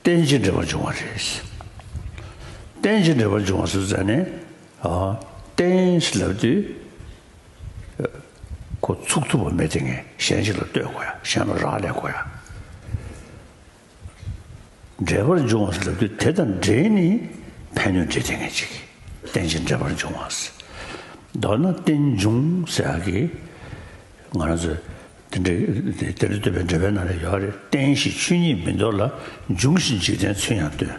རྟེན་ཅིང་འབྲེལ་པར་འབྱུང་བ་རེད། རྟེན་ཅིང་འབྲེལ་པར་འབྱུང་བ་སུ་ཟེར་ནས། རྟེན་ཞེས་ལབ་དུས། ཁོ་ཚུགས་ཐུབ་པ་མེད་དེ་ངས་གཞན་ཞིག་ལ་ལྟོས་དགོས་ཡ་གཞན་ལ་རག་ལས་དགོས་ཡ། འབྲེལ་པར་འབྱུང་བ་སུ་ལབ་དུས་དེ་དང་འབྲེལ་ནི་ཕན་གནོད་འབྲེལ་ལྡན་ངེས་ཅིག་གིས་རྟེན་ཅིང་འབྲེལ་པར་འབྱུང་བ། མདོར་ན་རྟེན་འབྱུང་ཟེར་ཡག་གི། ང་རང་ཚོས། དེ་འདྲའི་དེ་ལ་ལྟོས་པའི་འབྲེལ་པའི་ནང་ལས་ཡོད་རེ་བསྟན་ཞིང་ཆོས་ཉིད་མི་འདོར་ལ་འབྱུང་བཞིན་འཇིག་རྟེན་ཚུན་ཡང་སྟོན།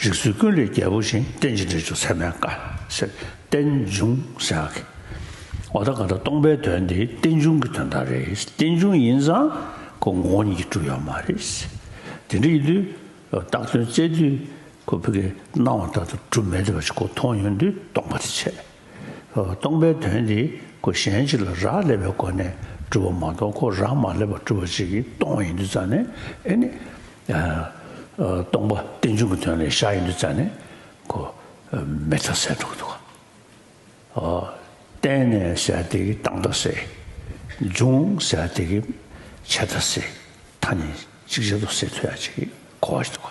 རིགས་ཚུལ་ཀུན་ལས་རྒྱལ་པོ་བཞིན་རྟེན་ཅིང་འབྲེལ་འཇུག་ཚད་མའི་བཀའ། ཟེར། རྟེན་འབྱུང་ཟེར་བ་གི། འོ་ད་ག་ད་སྟོང་པའི་དོན་འདི་རྟེན་འབྱུང་གི་དོན་དག་རེད་རྟེན་འབྱུང་ཡིན་ཙང་ཁོ་ངོ་བོ་ཉིད་ཀྱིས་གྲུབ་ཡོད་མ་རེད། དེ་འདྲ་ཡིན་དུས་བཏགས་དོན་བཙལ་དུས་ཁོ་ཕི་གས་སྣང་བ་ལྟར་དུ་གྲུབ་མེད་དེ་བ་ཅི་ཁོ་མཐོང་ཡོང་དུས་སྟོང་པ་དེ་ཆད། སྟོང་པའི་དོན་འདི་སྒོ་གཞན་ཅིག་ལ་རག་ལས་པའི་སྒོ་ནས་གྲུབ་པ་མ་གཏོགས་ཁོ་རང་མ་སླེབས་པར་གྲུབ་པ་ཅིག་གིས་སྟོང་ཡིན་དུས་རྩ་ནས་ཨེ་ནི། སྟོང་པ་རྟེན་འབྱུང་གི་དོན་ལས་བཞག་ཡིན་དུས་རྩ་ནས་གོ། མེ་ཐ་ཟས་དྲུག་ཏུ། བརྟེན་ནས་ཟས་དེ་གི་སྟངས་ཐ་ཟས། འབྱུང་ཟས་དེ་གི་བྱེད་ཐ་ཟས། ཐ་ནི་གཅིག་ཆད་དུ་ཟས་ཐུ་ཡ་ཅིག་གིས་གོ་བ་ཞིག་ཏུ་གོ།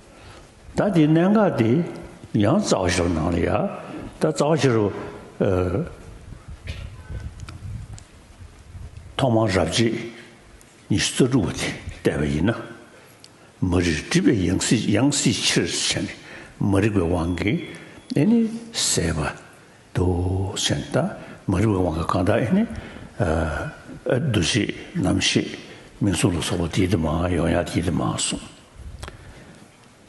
ད་དེའི་གནད་འགག་དེ་ཡང་རྩ་བ་བཞིར་སྣང་ལ་ཡ། ད་རྩ་བ་བཞིར། ཐོག་མར་རབ་བྱེད་ཉི་ཤུ་རྩ་དྲུག་པོ་དེ་བལྟས་པ་ཡིན་ན། མ་རིག་སྒྲིབ་པའི་ཡང་སྲིད་ཡང་སྲིད་ཕྱིར་བྱས་ནས་མ་རིག་པའི་དབང་གིས་ཨེ་ནི་ཟད་པ། འདུ་བྱེད་ད་མ་རིག་པའི་དབང་གིས་གང་དག་ཨེ་ནི། འདུ་བྱེད་རྣམ་ཤེས་མིང་གཟུགས་ལ་སོགས་པ་དེའི་དེ་མ་ཡོང་ཡང་དེའི་དེ་མ་གསུངས།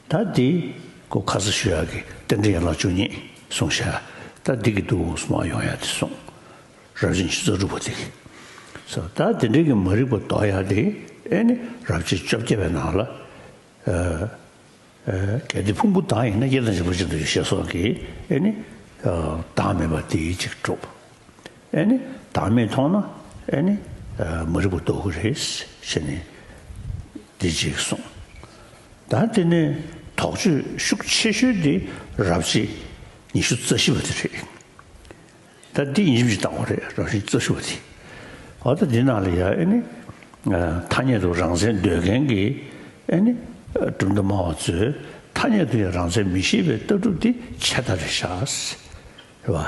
ད་འདི་གོ་ཁ་ས་ཞུ་ཡག་གི་རྟེན་འབྲེལ་ཡན་ལག་བཅུ་གཉིས་གསུངས་ཤ་ད་འདི་གི་འདུག་གསུངས་མ་ཡོང་ཡག་དེ་གསུངས་རབ་བྱེད་ཆུ་ཚོད་དྲུག་པ་འདི་གི་ད་འདི་འདྲེ་གི་མ་རིག་པ་འདོག་ཡག་དེ་ཨེ་ནི་རབ་བྱེད་བཅོ་བརྒྱད་པའི་ནང་ལ་གལ་ཏེ་ཕུང་པོ་དྭངས་ཡིན་ན་དབྱེ་དང་འཇིག་པ་ཅི་འདྲ་ཡོད་ཤེས་སོགས་ཀྱི་ཨེ་ནི་དྭངས་མེད་པ་འདི་གཅིག་གྲུབ། ཨེ་ནི་བདག་མེད་མཐོང་ན་ཨེ་ནི། མ་རིག་པ་ལྟོ་གོས་རེ་ཞེས་ནི། འདི་གཅིག་གསུངས། ད་འདི་ནི་དོགས་གཅོད་ཤུགས་ཆེ་ཤོས་དེ་རབ་བྱེད་ཉི་ཤུ་རྩ་བཞི་བ་དེ་རེད། ད་འདི་ཡིན་གྱི་བཏགས་པ་རེད་རབ་བྱེད་ཉི་ཤུ་རྩ་བཞི་བ་དེ། ཨོ་ད་འདི་ནང་ལ་ཡང་ཨེ་ནི། ཐ་སྙད་དུ་རང་མཚན་འདོད་མཁན་གྱི་ཨེ་ནི། གྲུབ་མཐའ་སྨྲ་བ་ཚོས་ཐ་སྙད་དུ་ཡང་རང་མཚན་མི་ཤེས་པའི་ལྟ་གྲུབ་དེ་ཆད་ལྟ་རེ་བཞག། རེ་བ།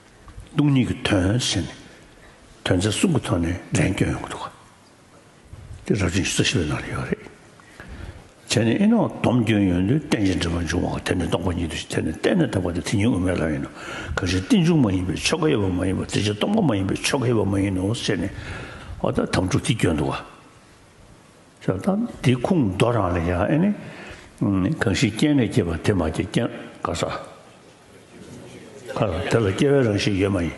སྟོང་ཉིད་ཀྱི་དོན་བྱས་ནས་དོན་རྩ་གསུམ་གྱི་ཐོག་ནས་འདྲེན་སྐྱོང་ཡོང་གི་འདུག་ག་དེ་རབ་བྱུང་རྩ་བཞི་པའི་ནང་ལ་ཡོད་རེད། བྱས་ནས་ཨེ་ནའོ་སྡོམ་སྐྱོན་ཡོད་དུས་གཏན་ཆེན་འདྲེན་པ་འབྱུང་བ་དེ་ནི་རྟོགས་པ་ཉིད་དུ་ཐལ་ནས་གཏན་ནས་དག་པ་དེ་དེ་ཉིད་དབུ་མའི་ལམ་ཡིན་ནོ། གང་ཞིག་རྟེན་འབྱུང་མ་ཡིན་པའི་ཆོ་ག་ཡོད་པ་མ་ཡིན་པར་རྩེ་གཅིག་སྟོང་པ་མ་ཡིན་པའི་ཆོ་ག་ཡོད་པ་མ་ཡིན་ནོ་ཟེར་ནས་ཨོ་ད་དམ་ཕྲུག་དེ་སྐྱོན་འདུག་ག། ཞབས་ཐང་འདི་ཁུངས་མདོ་རང་ལས་ཡང་ཨེ་ནི། གང་ཞིག་སྐྱེས་ནས་སྐྱེས་པ་དེ་མ་སྐྱེས་སྐྱེ། ཁ་ས། ཁ་ས་དེ་ལ་སྐྱེ་བའི་རང་བཞིན་ཡོད་མ་ཡིན།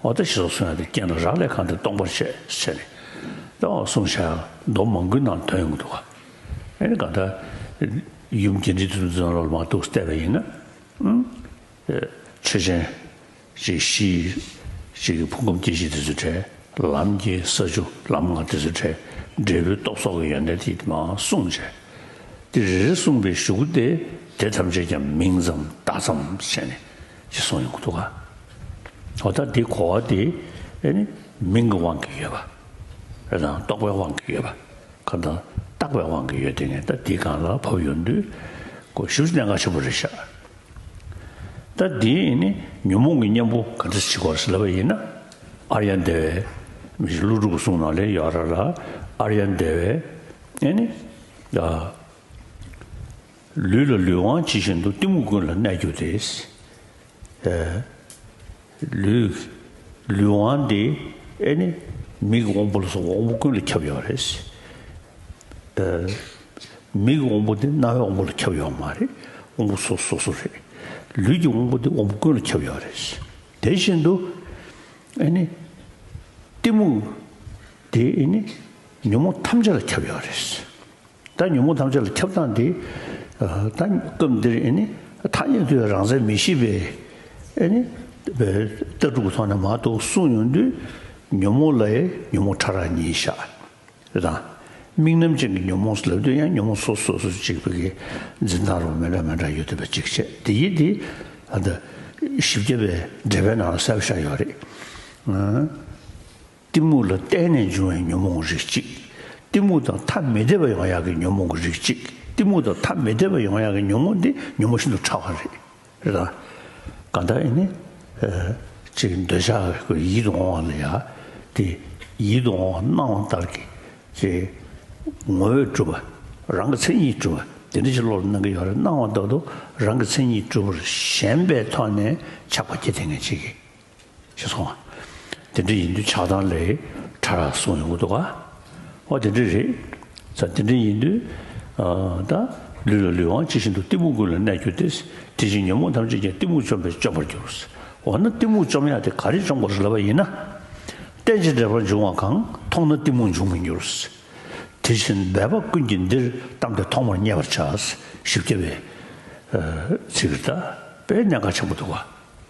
འོ་ད་ཞེས་སོགས་གསུངས་ཡང་དེ་རྐྱེན་ལ་རག་ལས་གང་དེ་སྟོང་པར་བཤད་བྱས་ནས། ད་འོ་གསུངས་བྱ། མདོ་མང་ཀུན་ནང་དོན་ཡོངས་འདུ་བ། ཨེ་ནི་གང་ལྟར། ཡུམ་སྐྱེ་འབྲིང་དུ་འཛིན་ལོག་ལ་མ་གཏུགས་བལྟས་པ་ཡིན་ན། ཆོས་ཅན། གཅིག་གཞི་གཅིག་གི་ཕུང་ཁམས་སྐྱེ་ཤི་དེ་ཚོའི་གྲས། ལམ་གྱི་ས་ཆུ་ལམ་ལྔ་དེ་ཚོའི་གྲས། འབྲས་བུའི་སྟོབས་སོགས་ཀྱི་ཡོན་ཏན་དེ་མང་གསུངས་བྱས། འདི་རེ་རེ་གསུངས་པའི་གཞུག་གུ་སྟེ་དེ་ཐམས་ཅད་ཀྱང་མིང་ཙམ་བརྡ་ཙམ་བྱས་ནས་ཅེས་གསུངས་ཡོང་གི་འདུག་ག་འོ་ད་འདི་གོ་བ་དེ་ནི་མིང་གི་དབང་གིས་ཡོད་པ། རེད་དང་རྟོགས་པའི་དབང་གིས་ཡོད་པ། གང་དང་བརྟགས་པའི་དབང་གིས་ཡོད་དེ་ནས་ད་འདི་གང་ལ་བབས་ཡོང་དུས། གཞུག་གནད་འགག་ཆེན་པོ་རེ་བཞག་ད་དེ་ནི་ཉོན་མོངས་ཀྱི་གཉེན་པོ་ག་འདྲ་ཞིག་གོ་ཟེར་ལབ་པ་ཡིན་ན། ཨཱརྱ་འདས་པས། མི་ཤིག་ཀླུ་སྒྲུབ་གསུང་ནང་ལས་ཡོ་ར་ལ་ཨཱརྱ་འདས་པས། ཨེ་ནི། ལུས་ལ་ལུས་དབང་ཇི་བཞིན་དུ་གཏི་མུག་ཀུན་ལ་གནས་གྱུར་ཏེ། ལུས། ལུས་དབང་འདི་ཨེ་ནི་མིག་དབང་པོ་ལ་སོགས་པ་དབང་པོ་ཀུན་ལ་ཁྱབ་ཡོད་རེད། མིག་གི་དབང་པོ་འདི་རྣ་བའི་དབང་པོ་ལ་ཁྱབ་ཡོད་མ་རེད། དབང་པོ་སོ་སོ་སོ་རེད། ལུས་ཀྱི་དབང་པོ་འདི་དབང་པོ་ཀུན་ལ་ཁྱབ་ཡོད་རེད། དེ་བཞིན་དུ་ཨེ་ནི། གཏི་མུག་འདི་ཨེ་ནི་ཉོན་མོངས་ཐམས་ཅད་ལ་ཁྱབ་ཡོད་རེད། ད་ཉོན་མོངས་ཐམས་ཅད་ལ་ཁྱབ་སྟངས་འདི། ད་སྐབས་འདིར་ཨེ་ནི། ཐ་སྙད་དུ་ཡང་རང་མཚན་མི་ཤེས་པས། ཨེ་ནི། ལྟ་གྲུབ་ཀྱི་ཐོག་ནས་མ་གཏོགས་གསུངས་ཡོང་དུས། ཉོན་མོངས་ལ་ཡང་ཉོན་མོངས་ཕྲ་རགས་གཉིས་བཞག། དང། དམིགས་རྣམ་ཅན་གྱི་ཉོན་མོངས་ལབ་དུས་ཡང་ཉོན་མོངས་སོ་སོ་སོ་སོ་གཅིག་པའི་འཛིན་སྟངས་རོ་མེད་འདྲ་མེད་འདྲ་ཡོད་དུས་པ་གཅིག་བྱས་དེ་ཡིན་དེ། བཞི་བརྒྱ་པའི་འགྲེལ་པའི་ནང་ལ་གསལ་པོ་བཞག་ཡོད་རེད། གཏི་མུག་ལ་བརྟེན་ནས་འབྱུང་བའི་ཉོན་མོངས་རིགས་གཅིག། གཏི་མུག་དང་ཐ་མི་དད་པའི་ཡང་ཡག་གི་ཉོན་མོངས་རིགས་གཅིག་གཏི་མུག་དང་ཐ་མི་དད་པའི་ཡང་ཡག་གི་ཉོན་མོངས་འདི་ཉོན་མོངས་ཤིན་ཏུ་ཕྲ་བ་རེད། རེད་དམ། གང་ལྟར་ཨེ་ནི། ཅིག་འདོད་ཆགས་ཀྱི་ཡིད་དུ་འོང་བ་ལ་ཡག་དེ། ཡིད་དུ་འོང་བ་སྣང་བ་ལྟར་གྱི། ཅེས། ངོ་བོས་གྲུབ་པ། རང་གི་མཚན་ཉིད་གྲུབ་པ་དེ་འདྲ་ཞིག་བློ་ལ་སྣང་གི་ཡོད་རེད་སྣང་བ་ལྟ་བུ་རང་གི་མཚན་ཉིད་གྲུབ་པར་ཞེན་པའི་ཐོག་ནས་ཆགས་པ་སྐྱེ་དེ་ངེས་བྱེད་ཀྱི་ཞེས་གསུངས། དེ་འདྲ་ཡིན་དུས་ཆགས་སྡང་ལས་ཕྲ་རགས་གསུངས་ཡོང་གི་འདུག་ག། ཨོ་དེ་འདྲ་རེད། ད་དེ་འདྲ་ཡིན་དུས། ད། ལུས་ལ་ལུས་དབང་ཇི་བཞིན་དུ་གཏི་མུག་ཀུན་ལ་གནས་གྱུར་ཏེ། དེ་བཞིན་ཉོན་མོངས་ཐམས་ཅད་ཀྱང་གཏི་མུག་བཅོམ་པས་བཅོམ་པར་འགྱུར། འོ་ན་གཏི་མུག་བཅོམ་ཡག་དེ་ག་རེས་བཅོམ་དགོས་ལབ་པ་ཡིན་ན། གཏན་ཅི་འབྲེལ་པར་འབྱུང་བ་གང་མཐོང་ན་གཏི་མུག་འབྱུང་མི་འགྱུར། དེ་བཞིན་འབད་པ་ཀུན་གྱིས་འདིར་གཏམ་དེ་ཐོག་མར་བསྙད་པར་བྱ། བཞི་བརྒྱ་པའི། ཚིག། པའི་གནད་འགག་ཆེན་པོ་འདུག་ག།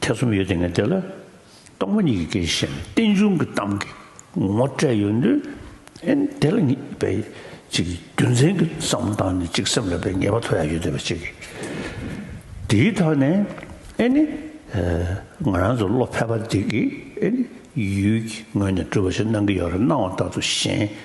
ཐེ་ཚོམ་ཡོད་དེ་ངས་དེ་ལ་སྟོང་པ་ཉིད་ཀྱི་སྐད་ཅིག་བཤད་ནས་རྟེན་འབྱུང་གི་གཏམ་གྱི་ངོ་སྤྲད་ཡོད་དུས་ཨེ་དེ་ལ་ངེས་པའི་གཅིག་རྒྱུ་མཚན་གྱི་བསམ་བློ་བཏང་ནས་གཅིག་སེམས་ལ་བའི་ངེས་པ་ཐོབ་ཡ་ཡོད་དེ་བ་གཅིག་གི་དེའི་ཐོག་ནས་ཨེ་ནི་ང་རང་ཚོ་བློ་ཕལ་པ་འདི་གིས་ཨེ་ནི་ཡུལ་གྱི་ངོས་ནས་སྤྲུལ་བ་ཞིག་གནང་གི་ཡོད་རེད་སྣང་བ་ལྟ་ཚུལ་གཞན་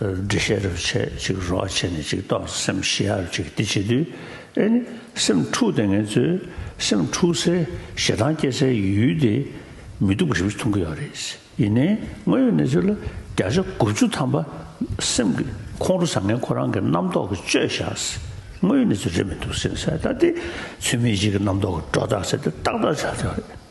འདྲི་ཤེས་རབ་བྱེད་ཅིག་རོ་བྱེད་ནས་ཅིག་རྟོག་བྱ་སེམས་ཤེས་ཡ་རབ་བྱེད་འདི་བྱེད་དུས་ཨེ་ནི་སེམས་འཁྲུགས་ཏེ་ངལ་རྩོལ་སེམས་འཁྲུགས་སའི་ཞེ་སྡང་སྐྱེ་སའི་ཡུལ་དེ་མི་སྡུག་རིམ་གྱིས་མཐོང་གི་ཡོད་རེད་ཡིན་ནའི་དངོས་ཡོད་གནས་ཚུལ་ལ་བརྒྱ་ཆ་དགུ་བཅུ་ཐམ་པ་སེམས་ཀྱི་ཁོང་ཁྲོ་བཟང་ངན་ཁོ་རང་གི་རྣམ་རྟོག་གི་བཅོས་བཞག་དངོས་ཡོད་གནས་ཚུལ་རེད་མི་འདུག་སེམས་གསལ་བཏགས་ཏེ་ཚུལ་མིན་གཅིག་གི་རྣམ་རྟོག་གི་སྒྲོ་བཏགས་བྱས་ཏེ་ཏག་ཏག་བྱ་ཆོག་རེད།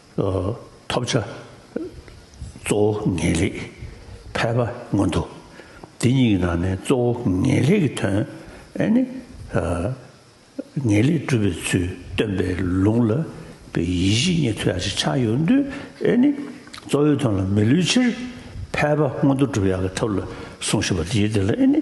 ཐོབ་བྱ་གཙོ་བོ་ངེས་ལེགས་ཕལ་པ་མངོན་འདུག་འདི་གཉིས་ཀྱི་ནང་ནས་གཙོ་བོ་ངེས་ལེགས་ཀྱི་དོན་ནི། ངེས་ལེགས་སྒྲུབ་པའི་ཚུལ་སྟོན་པའི་ལུང་ལ་པའི་ཡེ་ཤེས་ཉིད་མཐུ་ཡག་ཅིག་ཆགས་ཡོད་དུས་ནི། གཙོ་བོའི་དོན་ལ་མི་ལུས་ཕྱིར་ཕལ་པ་མངོན་འདུག་སྒྲུབ་ཡག་གི་ཐབས་ལ་གསུངས་ཞེས་པ་འདིའི་དོན་ལ་ནི།